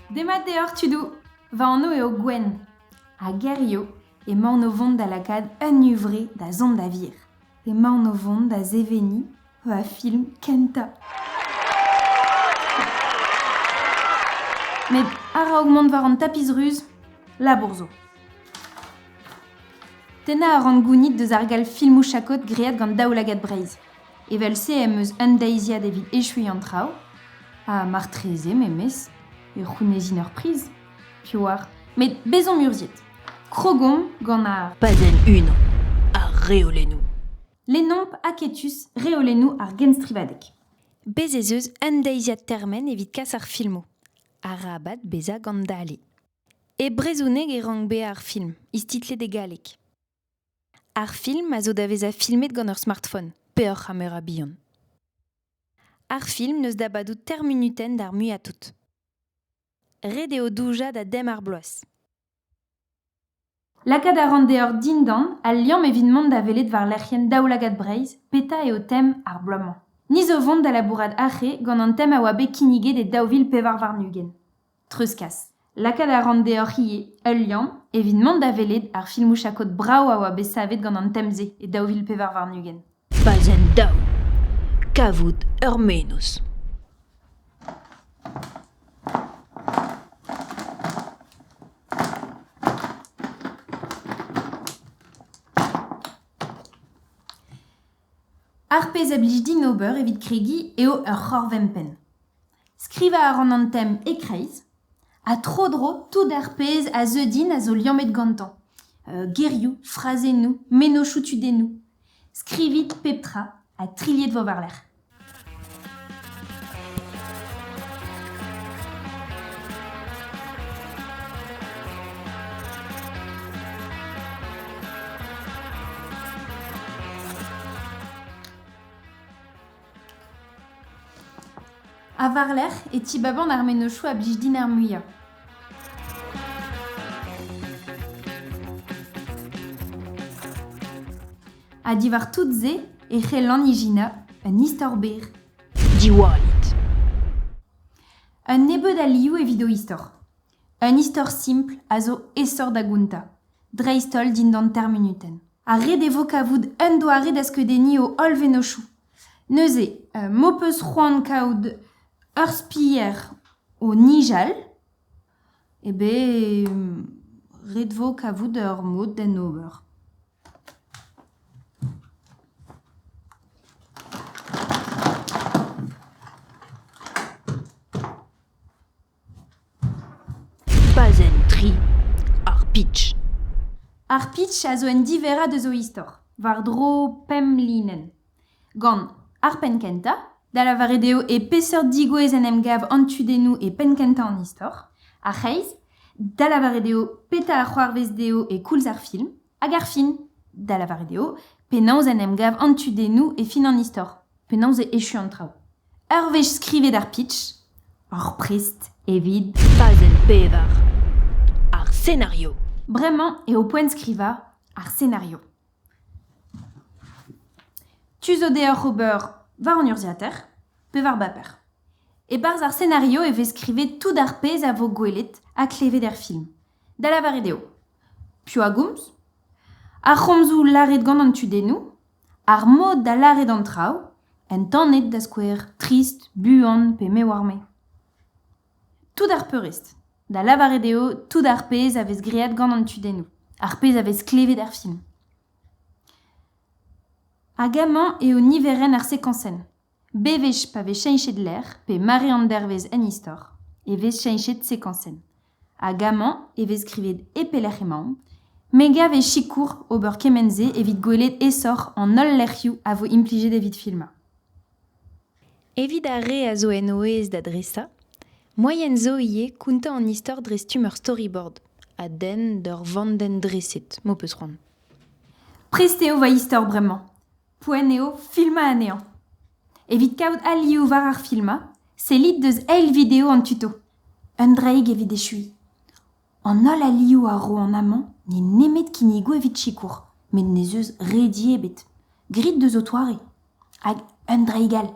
Demat deoc'h tudou. Va anv eo Gwen. Ha gerioù emaon o vont da lakaat un huñvre da zont da vir. Emaon o vont da seveniñ va film kentañ. Met araok mont war an tapis ruz, labour zo. Tennañ a ran gounid deus ar gall filmoù-chakod graet gant Daoulagad Breizh. Evel-se em eus un deiziad evit echuiñ an traoù, ha martreze memes, e c'hounezin ur priz, piv oar, met bezomp urzhiet! Krogomp gant ar Padenn unan. Ar reolennoù. Lennomp aketus reolennoù ar genstrivadeg. Bez' ez eus un deiziad termen evit kas ar filmoù. Arabat bezañ gant dale. E brezhoneg e rank bezañ ar film, istitlet e galleg. Ar film a zo da vezañ filmet gant ur smartphone, peoc'h ha meur a bihan. Ar film n'eus da badout termunuten d'ar muiañ tout. Ret eo doujañ da dem ar bloaz. Lakaat a ran deoc'h dindan al liamm evit mont da welet war lec'hienn Daoulagad Breizh petra eo tem ar bloaz-mañ. Ni zo 'vont da labourat arre gant an tem a oa bet kinniget e daou vil pevar warn-ugent. Treuzkas. Lakaat a ran deoc'h ivez ul liamm evit mont da welet ar filmoù chakod brav a oa bet savet gant an tem-se e daou vil pevar warn-ugent. Pazenn daou Kavout ur menoz. Ar pezh a blij din ober evit kregiñ eo ur c'horv-empenn. Skrivañ a ran an tem e-kreiz ha tro-dro tout ar pezh a zeu din a zo liammet gantañ gerioù, frazennoù, mennozhioù tudennoù. Skrivit pep tra ha trilhet vo war-lerc'h. Ha war-lerc'h e tibaban ar mennozhioù a blij din ar muiañ. Ha diwar tout-se e c'hellan ijinañ un istor berr. Diwallit. Un nebeud alioù evit ho istor. Un istor simpl a zo aesoc'h da gountañ, dreist-holl dindan termunutenn. Ha ret e vo kavout un doare da skeudenniñ o holl vennozhioù. Neuze, m'ho peus c'hoant kaout ur spier o nijal, eh bez ret vo kavout ur mod d'en ober. Pazenn tri Ar pitch. Ar pitch a zo un diverrañ deus o istor, war-dro pemp linenn. Gant ar penn-kentañ, da lavaret eo e peseurt digouezh en em gav an tudennoù e penn-kentañ an istor, ar c'hreiz, da lavaret eo petra a c'hoarvez dezho e koulz ar film, Hag ar fin, da lavaret eo, penaos en em gav an tudennoù e fin an istor, penaos e echu an traoù. Ur wech skrivet ar pitch, ur prest evit Fazenn pevar. Ar senario. Bremañ eo poent skrivañ ar senario. Tu zo deoc'h ober war an urzhiataer pe war baper. E-barzh ar senario e vez skrivet tout ar pezh a vo gwelet ha klevet er film. da lavaret eo piv a gomz, ar c'homzoù lâret gant an tudennoù, ar mod da lâret an traoù, entanet da skouer trist, buan pe me oar-me. Tout ar peurrest, da lavaret eo tout ar pezh a vez graet gant an tudennoù, ar pezh a vez klevet er film. Hag amañ eo niverenn ar sekañsenn. Bewech pa vez cheñchet lec'h pe mare an dervezh en istor e vez cheñchet sekañsenn hag amañ e vez skrivet e pelec'h emaomp. Me gav e sikour ober kement-se evit gwelet aesoc'h an holl lec'hioù a vo implijet evit filmañ. Evit ar re a zo en o aez da dresañ, moaien zo ivez kontañ an istor dre stumm ur storyboard a denn d'ur vandenn dreset, m'ho peus c'hoant. Prest eo va istor bremañ. Poent eo filmañ anezhañ. Evit kaout alioù war ar filmañ, sellit deus eil video an tuto. Un draig evit echuiñ. An holl alioù a ro an amañ n'eo nemet kinnigoù evit sikour, met n'ez eus redi ebet. Grit deus ho toare. Hag un draig all.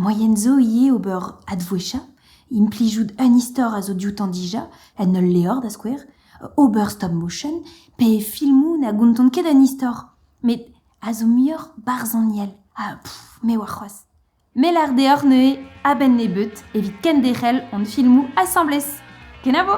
Moaien zo ivez ober advouezhañ, implijout un istor a zo dioutañ dija, en ul levr da skouer, ober stop-motion, pe filmoù na gontont ket an istor. Met a zo muioc'h barzhoniel ha me oar c'hoazh. Me lâr deoc'h neuze a-benn nebeut evit kenderc'hel hon filmoù asambles. Kenavo!